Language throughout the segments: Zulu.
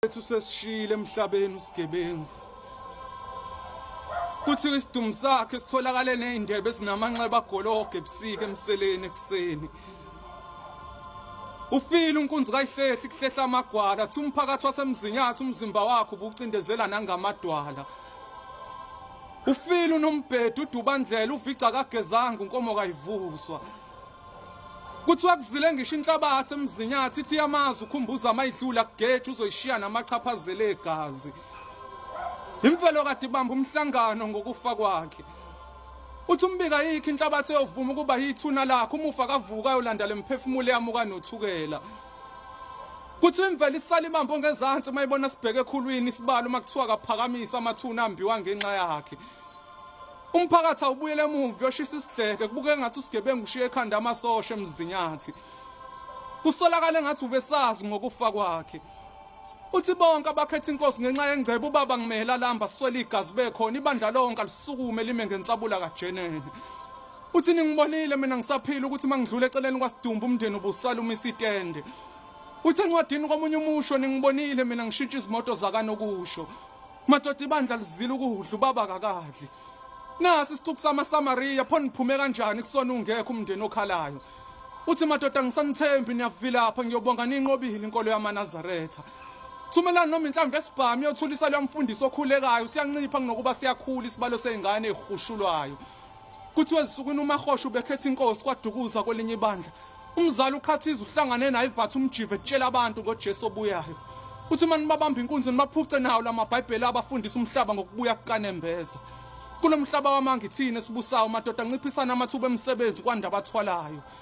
Ethu sesishile emhlabeni usigebengu. Kuthi isidumu sakhe sitholakale nezindebe ezinamanxeba agologe ebusika emseleni ekseni. Ufile unkunzi kayihlehli kuhlehla amagwala, thi umphakathi wasemzinyathi umzimba wakhe ubucindezela nangamadwala. Ufile unombhedo udubandlela uvica kagezanga unkomo kayivuswa. Kuthiwa kuzile ngisho inhlabathi emzinyathi ithi yamazi ukhumbuza amayidlula kugeje uzoyishiya namachaphazela egazi. Imvelo kade ibamba umhlangano ngokufa kwakhe. Uthi umbika yikho inhlabathi eyovuma ukuba yithuna lakhe umufa kavuka yolanda lemphefumulo yamuka nothukela. Kuthi imvelo isala ibambo ngezantsi mayibona sibheke ekhulwini isibalo makuthiwa kaphakamisa amathuna ambiwa ngenxa yakhe. Umphakathi awubuyele emuva uyoshisa isidleke kubuke ngathi usigebengu ushiye ekhanda amasosha emzinyathi. Kusolakale ngathi ubesazi ngokufa kwakhe. Uthi bonke abakhetha inkosi ngenxa yengcebo ubaba ngimehela lamba siswele igazi bekhona ibandla lonke alisukume lime ngensabula kajenene. Uthi ningibonile mina ngisaphila ukuthi mangidlula eceleni kwasidumbu umndeni ubusala uma isitende. Uthi encwadini komunye umusho ningibonile mina ngishintsha izimoto zakanokusho. Madoda ibandla lizile ukudla ubaba kakadli. Nasi isixuku samaSamariya pho niphume kanjani kusona ungekho umndeni okhalayo. Uthi madoda ngisanithembi niyavilapha ngiyobonga ninqobile inkolo yamaNazaretha. Thumela noma inhlamvu esibhamu yothulisa lomfundisi okhulekayo siyancipha kunokuba siyakhula isibalo sezingane ezihushulwayo. Kuthiwa ezinsukwini uMahosha ubekhetha inkosi kwaDukuza kwelinye ibandla. Umzali uqhathiza uhlangane naye ivatha umjive etshela abantu ngoJesu obuyayo. Uthi uma nibabamba inkunzi nibaphuce nawo lamabhayibheli abafundisa umhlaba ngokubuya kukanembeza. Kulo mhlaba wamanga ithini esibusayo madoda anciphisana amathuba emisebenzi kwanda abathwalayo.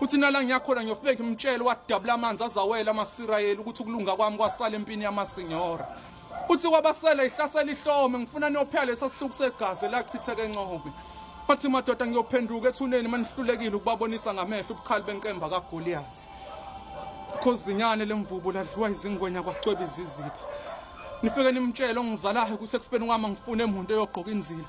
uthi nala ngiyakhona ngiyofike ngimtshele wadabula amanzi azawela amasirayeli ukuthi ukulunga kwami kwasala empini yamasinyora uthi kwabasele ihlasela ihlome ngifuna niyophela lesa sihluku segazi elachitheke encobe wathi madoda ngiyophenduka ethuneni manihlulekile ukubabonisa ngamehlo ubukhali benkemba kagoliyathi khozinyane lemvubu ladliwa izingwenya kwacweba izizipha nifike nimtshele ongizalayo ukuthi ekufeni kwami angifune muntu eyogqoka inzila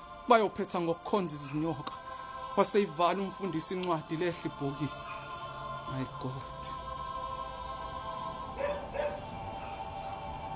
bayophetha ngokukhonza izinyoka waseyivala umfundisi incwadi lehla ibhokisi my god